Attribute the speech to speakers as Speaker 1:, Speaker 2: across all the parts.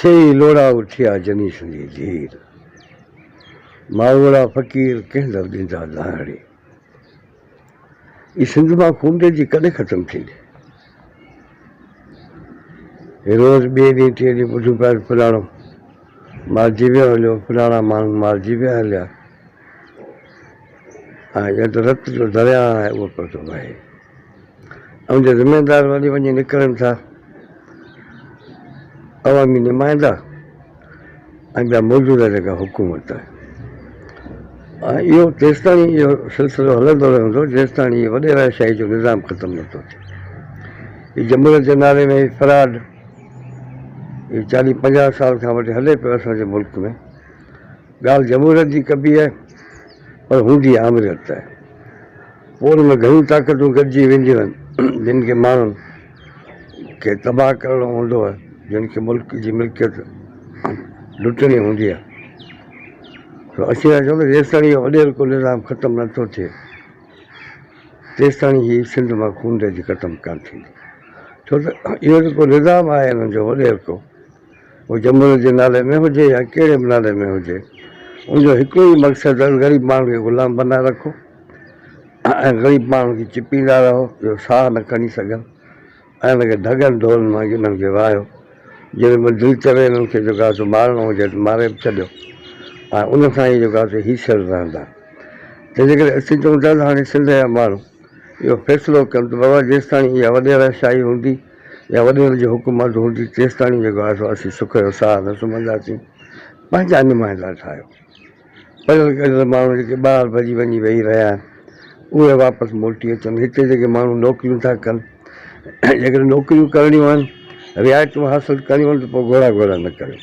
Speaker 1: سي ئي لوڙها اٿيا جني سندي ڌير. ماڙوئڙا فقير ڪنهن در ڏيندا لاهڻي. اي سنڌ مان خونده جي ڪڏهن ختم ٿيندي. هي روز ٻئي ڏينهن ٽئين ڏينهن ٻڌون پيا ته فلاڻو مارجي ويو هليو فلاڻا ماڻهو مارجي ويا هليا. هاڻي ڄڻ ته رت جو درياهه آهي اهو پيو ٿو وهي. اوهان جا ذميوار وري وڃي نڪرن ٿا عوامي نمائندا ۽ ٻيا موجوده جيڪا حڪومت آهي ۽ اهو تيستائين اهو سلسلو هلندو رهندو جيستائين هي وڏيرا شاهي جو نظام ختم نه ٿو ٿئي هي جمهوريت جي نالي ۾ هي فراڊ هي چاليهه پنجاهه سال کان وٺي هلي پيو اسان جي ملڪ ۾ ڳالهه جمهوريت جي ڪبي آهي پر هوندي آمريت ته پوء ان ۾ گهڻيون طاقتون گڏجي وينديون آهن جن کي ماڻهن کي تباهه ڪرڻو هوندو آهي جن کي ملڪ جي ملڪيت لٽڻي هوندي آهي سو اسين ٿا چئون ته جيستائين اهو اڏيرڪو نظام ختم نه ٿو ٿئي تيستائين هي سنڌ مان خونريزي ختم ڪانه ٿيندي ڇو ته اهو جيڪو نظام آهي هنن جو اڏيرڪو هو جمهوريت جي نالي ۾ هجي يا ڪهڙي به نالي ۾ هجي ان جو هڪڙو ئي مقصد آهي غريب ماڻهن کي غلام بنائي رکو ۽ غريب ماڻهن کي چپيندا رهو جو ساهه نه کڻي سگهن ۽ ان کي ڍڳن ڍولن وانگي انهن کي واهيو جڏهن به دل چوي انهن کي جيڪو آهي سو مارڻو هجي ته ماري به ڇڏيو ۽ ان سان ئي جيڪو آهي سو هيسر رهندا ته جيڪڏهن اسين چئون ٿا ته هاڻي سنڌ جا ماڻهو اهو فيصلو ڪن ته بابا جيستاڻي اها وڏيرا شاهي هوندي يا وڏيرن جي حڪم اڌ هوندي تيستاڻي جيڪو آهي سو اسين سک جو ساهه نه سمهنداسين. پنهنجا نمائندا ٺاهيو. پڙهيل ڳڙهيل ماڻهو جيڪي ٻاهر ڀڄي وڃي ويهي رهيا آهن اهي واپس موٽي اچن. هتي جيڪي ماڻهو نوڪريون ٿا ڪن جيڪڏهن نوڪريون ڪرڻيون آهن رعايتون حاصل ڪرڻيون آهن ته پوء گهوڙا گهوڙا نه ڪريو.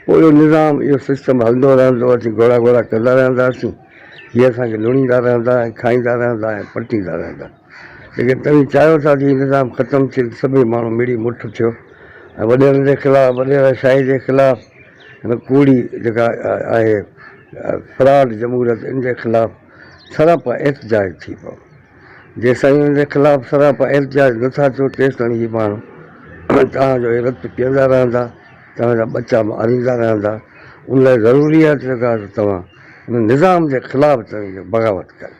Speaker 1: پوء اهو نظام اهو سسٽم هلندو رهندو اسين گهوڙا گهوڙا ڪندا رهنداسين. هي اسان کي لڻيندا رهندا ۽ کائيندا رهندا ۽ پٽيندا رهندا. جيڪڏهن توهين چاهيو ٿا ته هي نظام ختم ٿئي ته سڀئي ماڻهو مڙي مٺ ٿيو ۽ وڏيرن جي خلاف وڏيرا شاهي جي خلاف هن ڪوڙي جيڪا آهي فراڊ جمهوريت ان جي خلاف سراپا احتجاج ٿي پئو. جيستائين ان جي خلاف سراپا احتجاج نه ٿا ٿيو تيستائين هي ماڻهو توهان جو هي رت پيئندا رهندا توهان جا ٻچا ماريندا رهندا ان لاء ضروري آهي ته جيڪا توهان هن نظام جي خلاف توهين بغاوت ڪريو.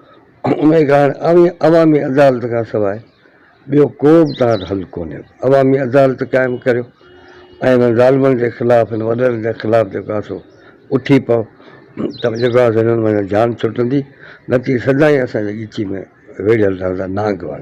Speaker 1: انهيء ڪارڻ عوامي عدالت کان سواء ٻيو ڪو به تهان حل ڪونهي. عوامي عدالت قائم ڪريو ۽ انهن ظالمن جي خلاف، هن وڏڙن جي خلاف جيڪو آهي سو اٿي پئو ته جيڪو آهي سو هنن مان جان ڇٽندي، نه ته اهي سدائين اسان جي ڳچي ۾ ويڙهيل رهندا. نانگ وڻ.